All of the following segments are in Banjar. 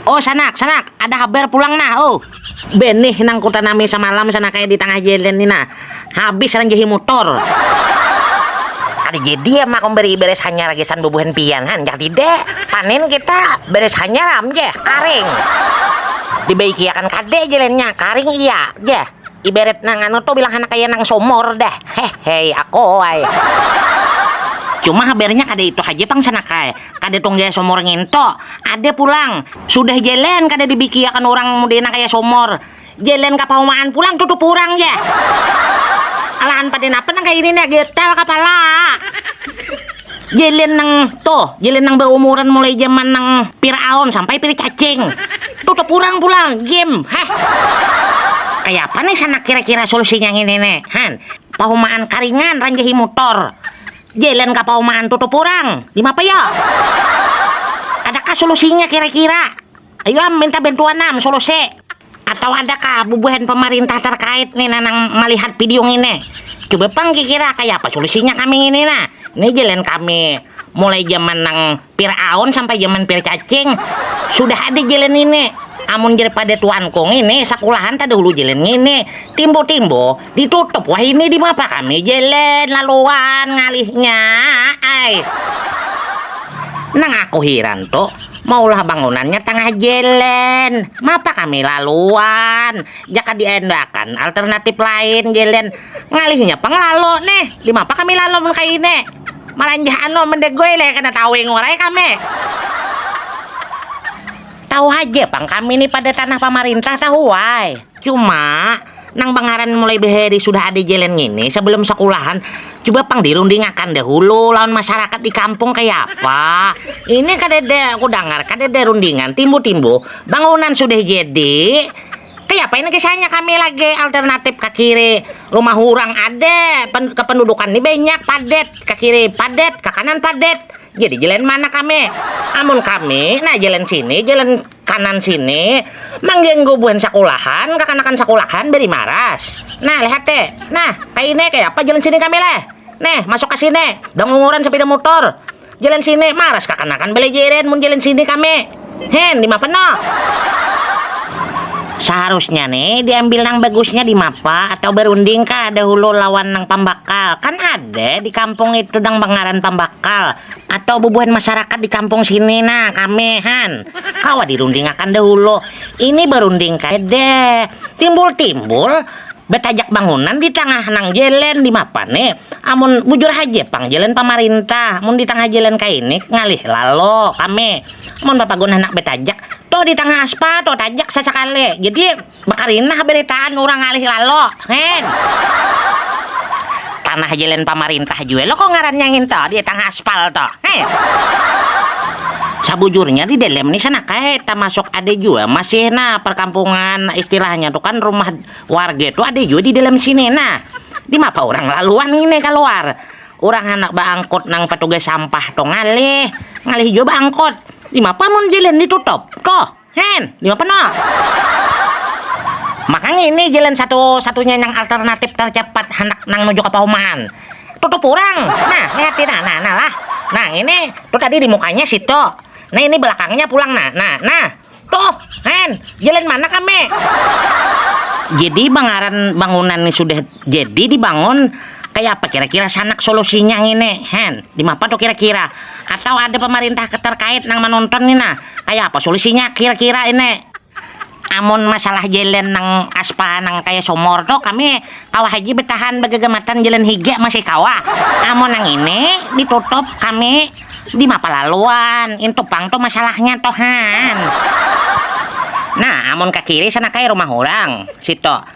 Oh sanak, sanak, ada habar pulang nah, oh. Benih nang kutanami samalam sana kaya di tangah jelen ni nah, habis lain jahi mutor. Kada jadi am aku beri beres hanyar gasan bubuhan pian, handak tidak? Panen kita beres hanyar am ja, karing. Dibaiki akan kada jelennya, karing iya ja. Ibarat nang anu tu bilang handak kaya nang sumur dah, hehei, aku ai. Cuma habarnya kada itu haja pang sanak ai. Kada tong gaya somor nginto. Ada pulang. Sudah jalan kada dibikiakan urang modena kaya somor. Jalan ka paumaan pulang tutup urang ja. Alahan pada napa nang kaya ini nih getal kapala. Jalan nang tuh, jalan nang baumuran mulai jaman nang piraon sampai pir cacing. Tutup urang pulang, game. Heh. Kaya apa nih sanak kira-kira solusinya ngini nih. Han. Paumaan karingan ranjahi mutor. Jalan ka Pauman tutup urang, dimapa yo? Adakah solusinya kira-kira? Ayu am minta bantuan am solusi. Atau adakah bubuhan pamarintah tarkait nih nanang malihat video ngini? Coba pang kikira kaya apa solusinya kami ngini nah. Nih jalan kami mulai jaman nang Pir'aun sampai jaman pircacing sudah ada jalan ngini. Amun jar pada tuanku ngini sakulahan tadahulu jalan ngini. Timbo-timbo ditutup wahini dimapa kami jalan laluan ngalihnya ai. Nang aku hiran tu maulah bangunannya tangah jalan mapa kami laluan jaka diandakan alternatif lain jalan. Ngalihnya pang lalo ne, dimapa kami lalo mun kaya ini. Maranjah ano mendegoy le kada tahu ingor ai kami. Tahu haja pang kami ni pada tanah pamarintah tahu ai. Cuma nang bangaran mulai bahari sudah ada jalan ngini sebelum sekulahan coba pang dirundingakan dahulu lawan masyarakat di kampung kaya apa ini kadada kudangar kadada rundingan timbu-timbu bangunan sudah jadi kayapa ini kisahnya kami lagi alternatif ka kiri rumah urang ada kependudukan ni banyak padet ka kiri padet ka kanan padet jadi jalan mana kami amun kami nah jalan sini jalan kanan sini mangganggu buhan sakulahan kakanakan sakulahan bari maras nah lihat te nah kaya ini kayapa jalan sini kami leh neh masuk ka sini dangunguran sapida mutur. Jalan sini maras kakanakan belejeren mun jalan sini kami. Hen, dimapa no? Saharusnya nih diambil nang bagusnya di mapa atau berunding kah dahulu lawan nang pambakal. Kan ada di kampung itu nang bangaran pambakal atau bubuhan masyarakat di kampung sini nah kami han. Kawa dirundingakan dahulu. Ini berunding kada timbul-timbul Batajak bangunan di tangah nang jelen dimapa ni amun bujur haja pang jelen pamarintah mun di tangah jelen kaini ngalih lalo kami mun bapagun handak batajak tuh di tangah aspal tuh tajak sasakali jadi bakarinah baritaan urang ngalih lalo heh. Tanah jalan pamarintah jua lo kok ngarannya nginto di tangah aspal to. Heh. Sabujurnya di dalam ni sana kai tamasuk ada jua masih nah perkampungan istilahnya tu kan rumah warga tu ada jua di dalam sini nah di mapa orang laluan ini kaluar orang handak baangkut nang petugas sampah tu ngalih ngalih jua baangkut di mapa mun jalan ditutup koh. Hen, lima penoh. Maka ngini jalan satu-satunya nang alternatif tercepat handak nang nuju ka Pauman. Tutup urang. Nah, lihati nah, nah, nah lah. Nah, ngini, tuh tadi di mukanya situ. Nah, ini belakangnya pulang nah, nah, nah. Tuh, Hen, jalan mana kami? Jadi bangaran bangunan ni sudah Jadi dibangun kaya apa kira-kira sanak solusinya ngini hen, dimapa tuh kira-kira? Atau ada pemerintah keterkait nang menonton nih nah, kaya apa solusinya kira-kira ini? Amun masalah jalan nang aspal nang kaya sumur tuh kami kawa haji betahan begegematan jalan higa masih kawa, amun nang ini ditutup kami dimapa lalu wan, intu pang tuh masalahnya tuh han. Nah amun ke kiri sana kaya rumah urang situ.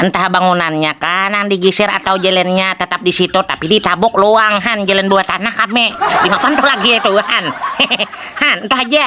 Entah bangunannya kah nang digisir atau jelennya tetap di situ, tapi ditabuk luang han jelen buah tanah kami. Dimakan tuh lagi itu han. Hehehe. Han, itu haja.